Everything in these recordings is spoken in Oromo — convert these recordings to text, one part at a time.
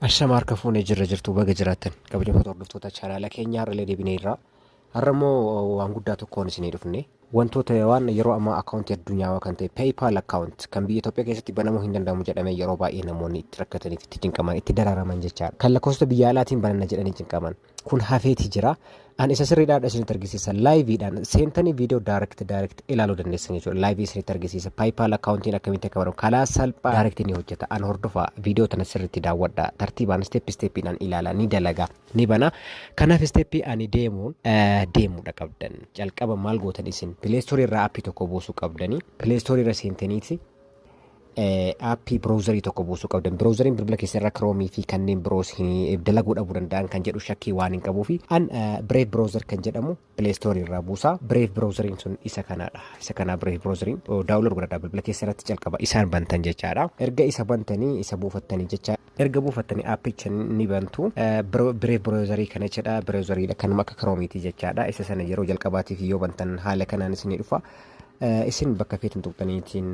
Ashama harka fuunee jirra jirtu baga jiraattan kabajamtoota hordoftoota chaanaala keenyaa irralee deebinee irraa har'a immoo waan guddaa tokkoon isinii dhufne wantoota waan yeroo ammaa akkaawuntii addunyaawaa kan ta'e peeyipaal akkaawunt kan biyya Itoophiyaa keessatti banamuu hin danda'amu jedhamee yeroo baay'ee namoonni itti rakkataniif itti cinqaman itti dararaman jechaadha kan lakkoofsa biyya alaatiin bananna jedhanii cinqaman kun hafeeti jira. An isa sirriidhaadha isinitti argisiisa. Laayiviidhaan seentanii viidiyoo daayirekti daayirekti ilaaluu dandeessan jechuudha. Laayivii isinitti argisiisa. Paayipaal akkaawuntiin akkamitti akka baramu kalaa salphaa daayirekti ni hojjeta. An hordofa viidiyoo tana sirriitti daawwadha. Tartiibaan isteeppi isteeppiidhaan ilaala ni dalaga ni bana. Kanaaf isteeppii ani deemuun deemuudha qabdan. Jalqaba maal gootan isin pileestoorii irraa appii tokko buusuu qabdanii pileestoorii irra seentaniiti aappii browserii tokko buusuu qabdan browseriin bilbila keessa irra kiroomii fi kanneen biroos dalaguu dhabuu danda'an kan jedhu shakkii waan hin qabuu fi an bireef browser kan jedhamu pileestoorii irraa buusaa bireef browseriin sun isa kanaadha isa kanaa bireef browseriin daawulood godhadha bilbila keessa irratti calqaba isaan bantan jechaadha erga isa bantanii isa buufattanii jecha Erga buufattanii aappicha ni bantu. Brave browserii kana jechaadha. Browserii dha kanuma akka Chrome-ti jechaadha. Isa sana yeroo jalqabaatiif yoo bantan haala kanaan isinii dhufa. Isin bakka feetan tuqxaniitiin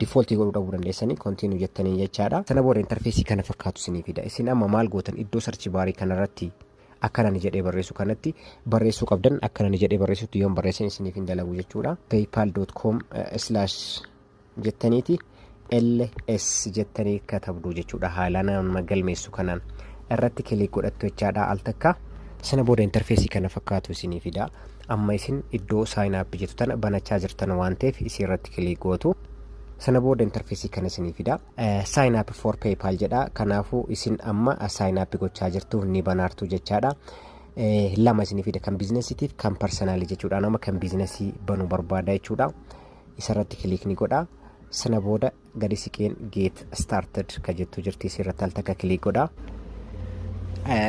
default godhuu dhabuu dandeessanii continue jettanii jechaadha. Sana booda interfeesii kana fakkaatu isinii fida. Isin amma maal gootan iddoo search baarii kanarratti akkana ni jedhee barreessu kanatti barreessuu qabdan akkana ni jedhee barreessutti yoon barreessan isiniif hin dalagu jechuudha. paypal.com slash jettaniiti ls jettanii katabdu jechuudha haala nama galmeessu kanaan irratti kilik godhattu jechaadha al takka sana booda interfeesii kana fakkaatu isinii fida amma isin iddoo saayinn app jettu tana banachaa jirtan waan ta'eef isii irratti kilik gootu sana booda interfeesii kana isinii fida saayinn app for paypal jedha kanaafuu isin amma saayinn app gochaa jirtu ni banaartu jechaadha lama isinii fida kan biizinesiitiif kan parsanaalii jechuudha nama kan biizinesii banuu barbaada jechuudha isarratti kiliik ni godha sana booda gadi siqeen geet started ka jettu jirti isirratti al takka kiliik godha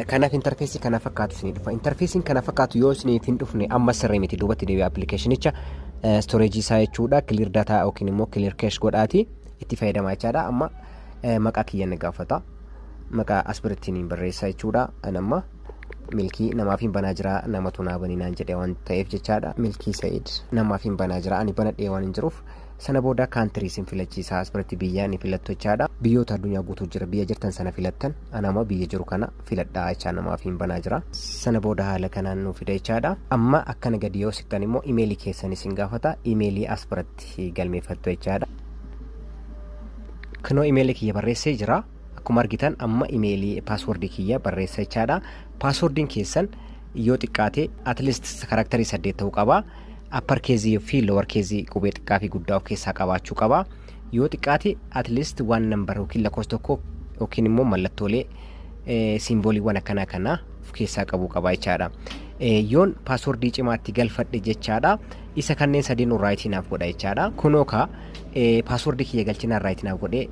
kanaaf intarfeesii kana fakkaatu isinii dhufa intarfeesiin kana fakkaatu yoo isiniif hin dhufne amma sirrii miti duubatti deebi'a appilikeeshinicha storeejii isaa jechuudha kiliir dataa yookiin immoo kiliir keesh godhaati itti fayyadamaa jechaadha amma maqaa kiyya ni gaafata maqaa asbirittiin barreessaa jechuudha an amma milkii namaaf hin banaa jira namatu naa banii naan jedhee waan ta'eef jechaadha milkii sa'id namaaf hin banaa jira ani banadhee waan hin jiruuf sana booda kaantirii sin filachiisa asbiratti biyyaa ni filattu jechaadha biyyoota addunyaa guutuu jira biyya jirtan sana filattan an amma biyya jiru kana filadhaa jechaa namaaf hin banaa jira sana booda haala kanaan nu fida jechaadha amma akkana gadi yoo siqtan immoo imeelii keessan isin gaafata imeelii asbiratti itti galmeeffattu jechaadha. Kunoo imeelii kiyya barreessee jira. Akkuma argitan amma imeelii paaswordii kiyya barreessa jechaadha. Paaswordiin keessan yoo xiqqaate at least karaktarii saddeet ta'uu qaba. Appar keezii fi lower keezii qubee xiqqaa fi guddaa of keessaa qabaachuu qaba. Yoo xiqqaate at least waan nambar yookiin lakkoofsa tokko yookiin immoo mallattoolee siimbooliiwwan akkanaa kana of keessaa qabuu qaba jechaadha. Yoon paaswordii cimaatti galfadhe jechaadha. Isa kanneen sadeenuu raayitii naaf godha jechaadha. Kunoo ka paaswordii kiyya galchinaan raayitii naaf godhee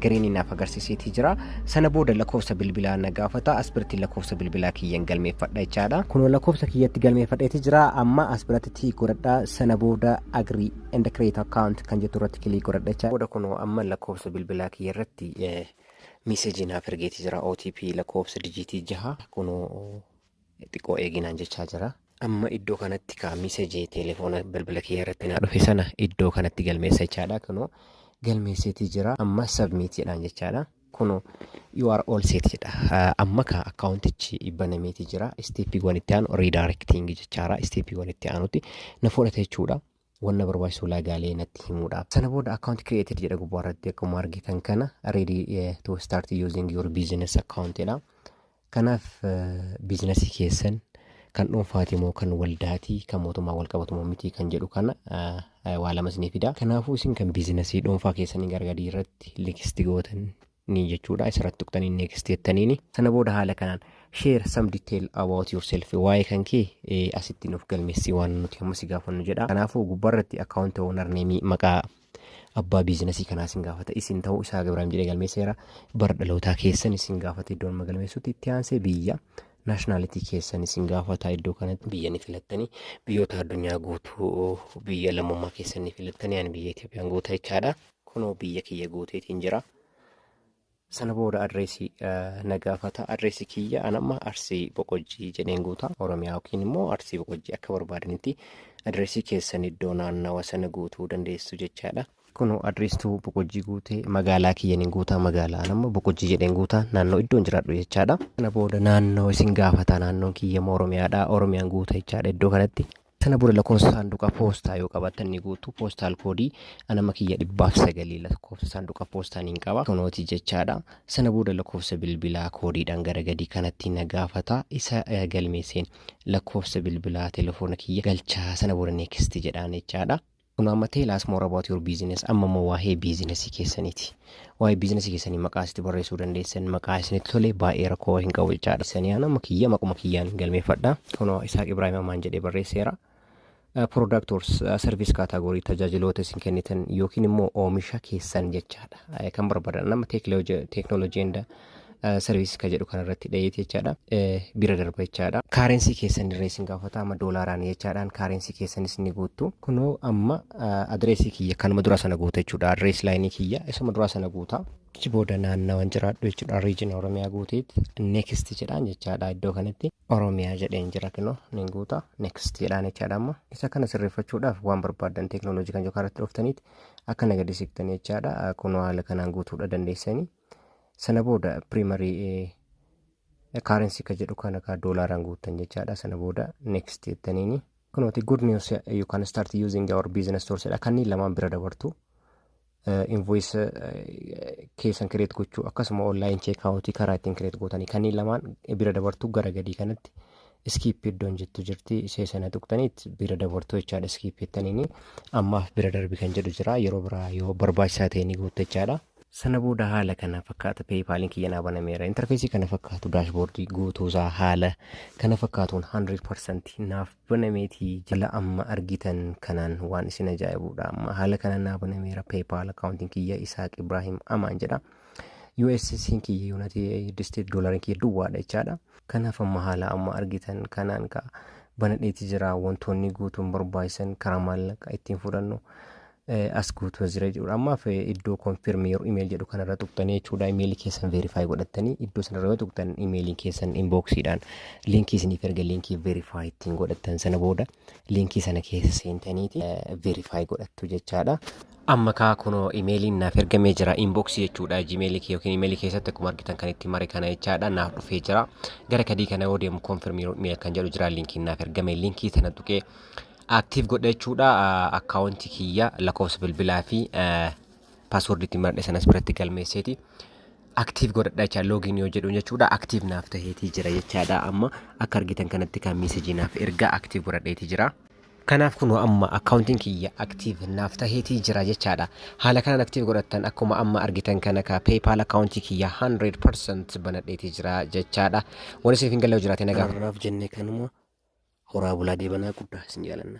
giriinii naaf agarsiiseetii jira. Sana booda lakkoofsa bilbilaa na gaafata. As biratti lakkoofsa bilbilaa kiyyan galmeeffadha jechaadha. Kunoo lakkoofsa kiyyatti galmeeffadheeti jira. Amma as biratti tii godhadha. Sana booda agree and create account kan jettu irratti kilii godhadha jechaadha. Booda kunoo amma lakkoofsa bilbilaa kiyya irratti miisejii naaf ergeeti jira. OTP lakkoofsa dijiitii jaha kunoo xiqqoo eegi naan jechaa jira. Amma iddoo kanatti kaa miseji telefoona bilbila kiyya irratti naa dhufe sana iddoo kanatti galmeessa jechaadha. Kunoo galmeesseetii jira. Amma submit jedhaan jechaadha. Kunoo you are all set jedha. Ah, Amma kaa akkaawuntichi banameetii jira. Isteeppiiwwan itti aanu redirecting jechaadha. Isteeppiiwwan itti aanutti na fudhata jechuudha. Wanna barbaachisu ulaagaalee natti himuudhaaf. Sana booda account created jedha gubbaa irratti akkuma argitan kana ready eh, to start using your business account jedha. Kanaaf biizinasii keessan kan dhuunfaati moo kan waldaati kan mootummaa wal qabatu moo miti kan jedhu kana eh, eh, waa lama isinii fida. Kanaafuu isin kan biizinasii dhuunfaa keessanii gargadii irratti likisti gootan ni jechuudha isarratti tuqtanii next jettaniini sana booda haala kanaan share some detail about yourself waa'ee kan kee eh, asitti nuuf galmeessii waan nuti amma si gaafannu jedha kanaafuu gubbaarratti account owner name maqaa abbaa biizinasii kanaa isin gaafata isin ta'uu isaa gabiraam jedhee galmeesseera bara dhalootaa keessan isin gaafata iddoo amma galmeessutti itti aansee biyya naashinaalitii keessan isin gaafata iddoo kanatti biyya ni filattanii biyyoota addunyaa guutuu biyya lammummaa keessan ni filattanii ani biyya Itoophiyaan guutaa jechaadha Kunoo biyya kiyya guuteetiin jira. Sana booda adreesii na gaafata. Adreesii kiyya an amma Arsii Boqojjii jedheen guuta. Oromiyaa yookiin immoo Arsii Boqojjii akka barbaadanitti adreesii keessan iddoo naannawa sana guutuu dandeessu jechaadha. Kunoo adreestuu Boqojjii guutee magaalaa kiyyan hin guutaa magaalaa an amma Boqojjii jedheen guuta naannoo iddoon jiraadhu jechaadha. Sana booda naannoo isin gaafata naannoon kiyya immoo Oromiyaadha. Oromiyaan guuta jechaadha iddoo kanatti. Sana booda lakkoofsa saanduqa poostaa yoo qabaattan ni guutu. Poostaal koodii anama kiyya dhibbaaf sagalii lakkoofsa saanduqa poostaa niin qaba. Kunooti jechaadha. Sana booda lakkoofsa bilbilaa koodiidhaan gara gadii kanatti na gaafata. Isa eh, galmeesseen lakkoofsa bilbilaa telefoona kiyya galchaa sana booda next jedhaan jechaadha. Kunoo amma tell us more about your business amma immoo waa'ee biizinasii keessaniiti. Waa'ee biizinasii keessanii maqaa asitti barreessuu dandeessan maqaa isinitti tole baay'ee rakkoo hin qabu jechaadha. Isanii aan amma kiyya maquma kiyyaan galmeeffadha. Kunoo Isaaq Ibraahim Amaan jedhee barreesseera. Product or service category tajaajiloota isin kennitan yookiin immoo oomisha keessan jechaadha. Kan barbaadan amma technology and sarviisii kan jedhu kanarratti dhayeeti jechaadha. Bira darba jechaadha. Kaarensii keessan irra isin gaafata amma doolaaraan jechaadhaan kaarensii keessanis ni guuttu. Kunoo amma adireesii kiyya kanuma dura sana guuta jechuudha. Adirees laayinii kiyya isuma dura sana guuta. Achi booda naannawan jiraadhu jechuudha. Riijin Oromiyaa guuteet next jedhaan jechaadha iddoo kanatti. Oromiyaa jedheen jira kunoo nin guuta next jedhaan jechaadha amma. Isa kana sirreeffachuudhaaf waan barbaadan teeknooloojii kan yookaan irratti dhuftaniit akka nagadisiiftanii jechaadha. Kunoo haala kanaan guutuudha dandeessanii. Sana booda primary currency ka jedhu kana ka doolaaraan guuttan jechaadha. Sana booda next jettaniini. Kunooti good news you can start using our business tools jedha. Kanneen lamaan bira dabartu. Invoice keessan kireet gochuu akkasuma online check out karaa ittiin kireet gootanii kanneen lamaan bira dabartu gara gadii kanatti skip iddoon jettu jirti ishee sana tuqtaniit bira dabartu jechaadha skip jettaniini ammaaf bira darbi kan jedhu jira yeroo biraa yoo barbaachisaa ta'e ni guutta jechaadha. Sana booda haala kana fakkaata peeyipaaliin kiyya naa banameera. Intarfeesii kana fakkaatu daashboordii guutuusaa haala kana fakkaatuun 100% naaf banameeti jala amma argitan kanaan waan isin ajaa'ibuudha. Amma haala kana naa banameera peeyipaal akkaawuntiin kiyya Isaaq Ibraahim Amaan jedha. USSiin kiyya Yuunaayitid Isteet doolariin kiyya duwwaadha jechaadha. Kanaaf amma haala amma argitan kanaan ka banadheeti jira wantoonni guutuun barbaachisan karaa maallaqa ittiin fudhannu as guutuu as jira jechuudha. Ammaaf iddoo confirm your email jedhu kanarra tuqtanii jechuudha email keessan verify godhattanii iddoo sanarra yoo tuqtan email keessan inboxiidhaan linkii isiniif erga linkii verify ittiin godhattan sana booda linkii sana keessa seentaniiti verify godhattu jechaadha. Amma kaa kunoo imeeliin naaf ergamee jira inbox jechuudha gmail kee yookiin imeelii keessatti akkuma argitan kan itti mare kana jechaadha naaf dhufee jira gara kadii kana yoo deemu confirm your email kan jedhu jira linkiin naaf ergame linkii sana tuqee Active godha jechuudha akkaawuntii kiyya lakkoofsa bilbilaa fi password itti maradhe sanas biratti galmeesseeti. Active godhadha jecha login yoo jedhu jechuudha active naaf taheetii jira jechaadha amma akka argitan kanatti kan message naaf erga active godhadheetii jira. Kanaaf kun amma akkaawuntiin kiyya active naaf taheetii jira jechaadha. Haala kanaan active godhattan akkuma amma argitan kana ka PayPal akkaawuntii kiyya 100% banadheetii jira jechaadha. Wani siif hin galle yoo jiraate na gaafadhu. Kanaaf jennee kanuma horaa bulaa deebanaa guddaa isin jaalanna.